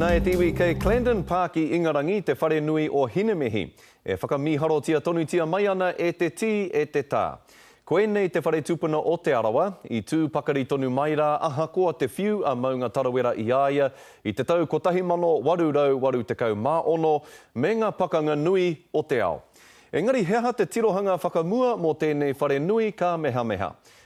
Na e te iwi kei Clandon Park i Ingarangi te whare nui o Hinemihi. E whakamīharotia tonutia mai ana e te tī, e te tā. Koinei te whare tupuna o Te Arawa, i tū pakari tonu mai rā ahakoa te whiu a Maunga Tarawera i a ia i te tau 1886 me nga pakanga nui o te ao. Engari he aha te tirohanga whakamua mō tēnei whare nui ka mehameha?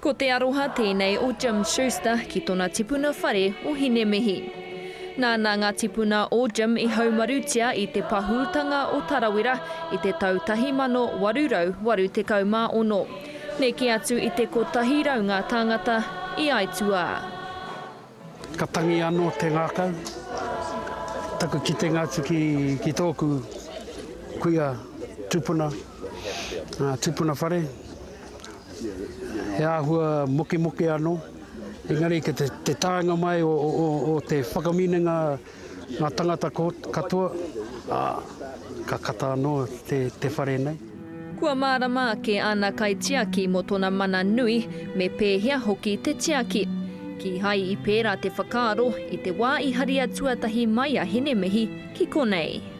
Ko te aroha tēnei o Jim Schuster ki tona tipuna whare o Hinemihi. Nāna ngā tipuna o Jim i haumarutia i te pahūtanga o Tarawera i te tau 1886. Neke atu i te kotahi rau ngā tāngata i aituā. Ka tangi ano te ngakau. Taku kitenga atu ki toku kuia tupuna, tupuna whare, he ahua mokemoke ano, engari ko te taenga mai o te whakaminenga, Ngā tangata katoa, ā, ka kata anō te whare nei. Kua mārama ake āna kaitiaki mō tōna mana nui, me pēhea hoki te tiaki. Kīhai i pērā te whakaaro i te wā i haria tuatahi mai a Hinemehi ki konei.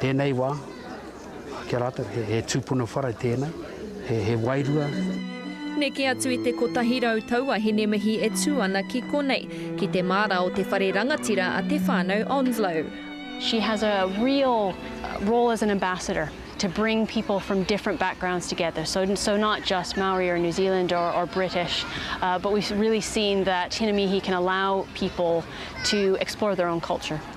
Tēnei wā, ki a rātou, he tūpuna whare tēnei, he wairua. Neke atu i te kotahi rau taua hinemihi e tū ana ki konei, ki te māra o te whare rangatira a Te Whānau Onslow. She has a real role as an ambassador to bring people from different backgrounds together, so so not just Maori or New Zealand or or British, but we've really seen that hinemihi can allow people to explore their own culture.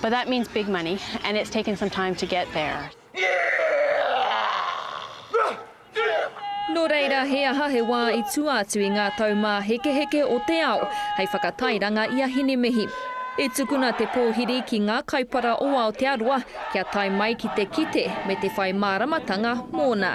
But that means big money and it's taken some time to get there. Nō reira, he aha he wā i tua atu i ngā taumāhekeheke o te ao hei whakatairanga i a Hinemihi? I tukuna te pōhiri ki ngā kaipara o Aotearoa kia tae mai ki te kite me te whai māramatanga mōna.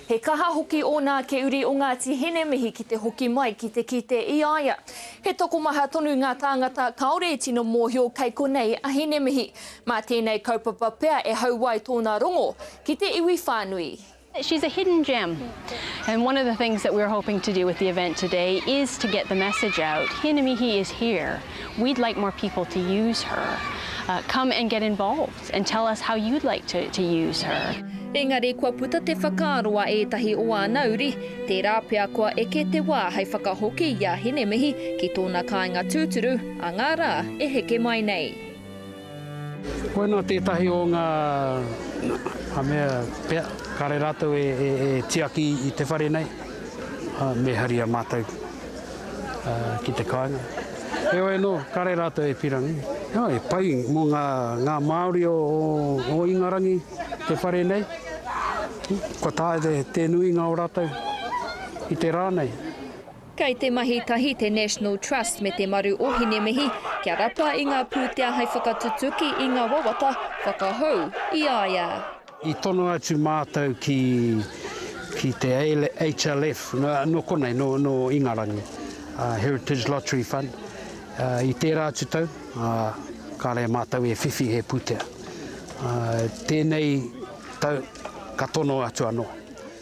He kaha hoki ōna ake uri o Ngāti Hine mihi ki te hoki mai ki te kite i a ia. He tokomaha tonu ngā tāngata kāore i tino mōhio kei konei a Hinemihi. Mā tēnei kaupapa pea e hau ai tōna rongo ki te iwi whānui. She's a hidden gem and one of the things that we're hoping to do with the event today is to get the message out, Hinemihi is here, we'd like more people to use her, come and get involved. and tell us how you'd like to to use her. Engari kua puta te whakaaro a ētahi o āna uri, tērā pea kua eke te wā hei whakahoki i a Hinemihi ki tōna kāinga tūturu a ngā rā e heke mai nei. Koinā tētahi o ngā mea pea kāre rātou e tiaki i te whare nei, me haria mātou ki te kāinga. Heoi anō, kare rātou e pirangi. Nō, he pai mō ngā, ngā Māori o, o Ingarangi te whare nei. Kua taea te, te nuinga o rātou i te rā nei. Kei te mahi tahi te National Trust me te Maru o Hinemihi kia rapa i ngā pūtea hei whakatutuki i ngā wawata whakahou i a ia. I tono atu mātou ki, ki te HLF, nō, nō konei, nō, nō Ingarangi, uh, Heritage Lottery Fund, uh, i tērā atu tau, uh, ka rei mātou e whiwhi he pūtea. Uh, tēnei tau, ka tono atu anō.